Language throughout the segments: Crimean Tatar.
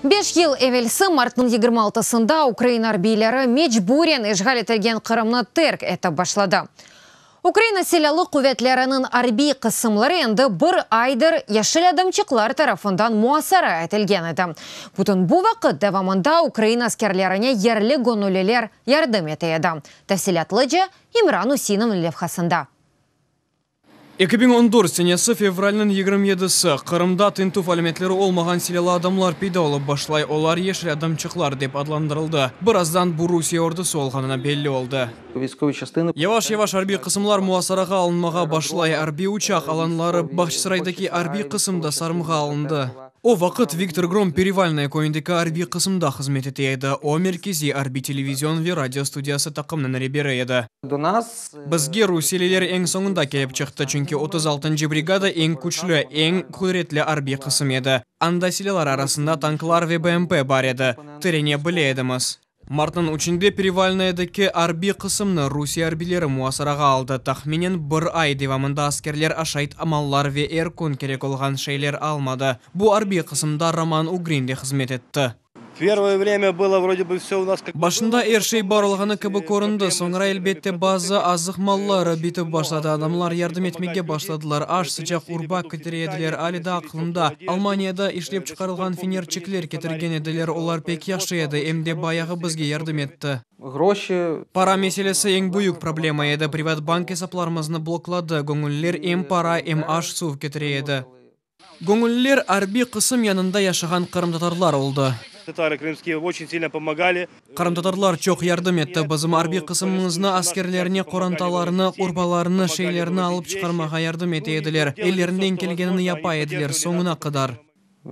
Beş yıl evelsi martnıñ yigirmi altısında ukrain arbiyleri mecburen işğal etilgen Qırımnı terk etip başladı. Ukraina Silâlı quvetleriniñ arbiy qısımları endi bir aydır yeşil adamçıqlar tarafından muasara etilgen edi. Bütün bu vaqıt devamında ukrain askerlerine yerli göñülliler yardım ete edi, tafsilâtlıca İmran Üsinniñ levhasında. Eki biñ on dört senesi fevralniñ yigirmi yedisi, Qırımda tintüv alâmetleri olmağan silâlı adamlar peyda olıp başlay, olar yeşil adamçıqlar dep adlandırıldı. Birazdan bu Rusiye ordusı olğanına belli oldı. Yavaş-yavaş arbiy qısımlar muasarağa alınmağa başlay, arbiy uçaq alanları, Bahçısaraydaki arbiy qısım da sarımğa alındı. O vaqıt Viktor Grom Perivalnoye köyündeki arbiy qısımda hızmet ete edi, o, merkeziy arbiy televizion ve radio studiyası taqımnıñ reberi edi. Bizge rusiyeliler eñ soñunda kelip çıqtı, çünki otuz altıncı brigada eñ küçlü, eñ qudretli arbiy qısım edi. Anda silâlar arasında tanklar ve BMP bar edi. Tirene bile edimiz. Martnıñ üçünde Perevalnoyedeki arbiy qısımnı rusiye arbiyleri muasarağa aldı. Tahminen bir ay devamında askerler aşayt amallar ve er kün kerek olğan şeyler almadı. Bu arbiy qısımda Roman Ugrin de hızmet etti. Başında er şey bar olğanı kibi köründi, soñra, elbette, bazı azıq malları bitip başladı, adamlar yardım etmege başladılar, aş, sıcaq urba ketire ediler, ali da aqlımda, Almaniyada işlep çıqarılğan fenerçikler ketirgen ediler, olar pek yahşı edi, em de bayağı bizge yardım etti. Para meselesi eñ büyük problema edi, privat bank esaplarımıznı blokladı, göñüller em para, em aş, suv ketire edi. Göñülliler arbiy qısım yanında yaşağan qırımtatarlar oldı. Tatarı krımskiyı oçün silna pomagali. Qırımtatarlar çoq yardım etti bizim arbiy qısımımıznı, askerlerine qorantalarını, urbalarını, şeylerini alıp çıqarmağa yardım ete ediler, ellerinden kelgenini yapa ediler, soñuna qadar.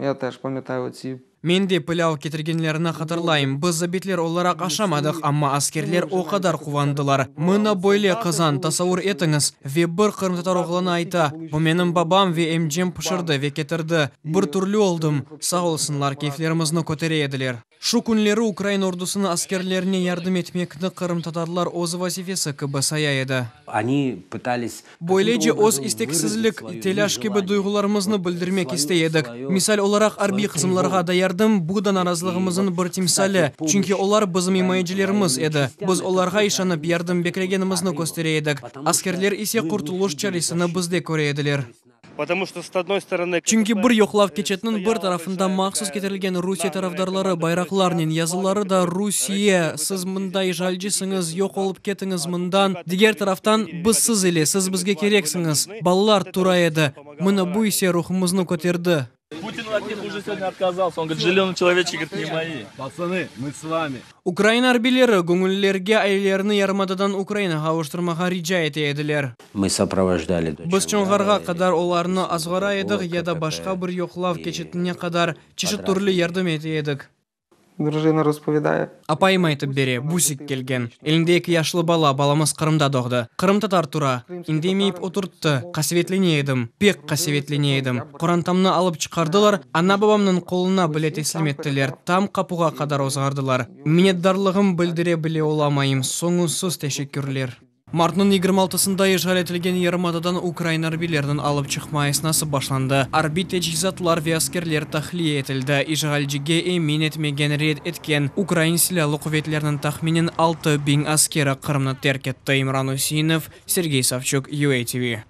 Ya taş pametayı otsib. Men de pilâv ketirgenlerini hatırlayım. Biz zabitler olaraq aşamadıq, amma askerler o qadar quvandılar. Mına böyle qazan, tasavur etiñiz! Ve bir qırımtatar oğlanı ayta, Bu menim babam ve emcem pişirdi ve ketirdi. Bir türlü oldım. Sağ olsunlar, keyflerimizni kötere ediler. Şu künleri ukrain ordusınıñ askerlerine yardım etmekni qırımtatarlar öz vazifesi kibi saya edi. Onı pıtались Böylece öz isteksizlik, telâş kibi duyğularımıznı bildirmek istey edik. Misal olaraq, arbiy qısımlarğa da yardım, bu da narazılığımızın bir timsali, çünki olar bizim imayecilerimiz edi. Biz olarğa işanıp yardım beklegenimizni köstere edik, askerler ise qurtuluş çaresini bizde köre ediler. Çünki bir yoqlav keçetiniñ bir tarafında mahsus ketirilgen Rusiye tarafdarları bayraqlarnen yazıları da Rusiye, siz mında işğalcisiñiz, yoq olıp ketiñiz mından, diger taraftan, biz siz ile, siz bizge kereksiñiz, balalar tura edi. Mına bu ise ruhumıznı köterdi. Ukraina arbileri göñüllerge ailelerni yarımadadan Ukrainağa avuştırmağa rica ete ediler. Biz Çonğarğa qadar olarnı azğara edik ya da başqa bir yoqlav keçitine qadar çeşit türlü yardım ete edik. Drujina raspovedaya. Apayım aytıp bere, Busik kelgen. Elinde eki yaşlı bala, balamız Qırımda doğdı. Qırımtatar tura. İndemeyip oturttı. Qasevetlene edim, pek qasevetlene edim. Qorantamnı alıp çıqardılar, ana-babamnıñ qoluna bile teslim ettiler, tam qapuğa qadar ozğardılar. Minnetdarlığım bildire bile olamayım, soñunsız teşekkürler. Martnıñ yigirmi altısında işğal etilgen yarımadadan ukrain arbiyleriniñ alıp çıqma esnası başlandı. Arbiy teçhizatlar ve askerler tahliye etildi. İşğalcige emin etmegen, red etken, ukrain silâlı quvetleriniñ tahminen altı biñ askeri Qırımnı terk etti, İmran Üseinov, Sergey Savçuk, UA TV.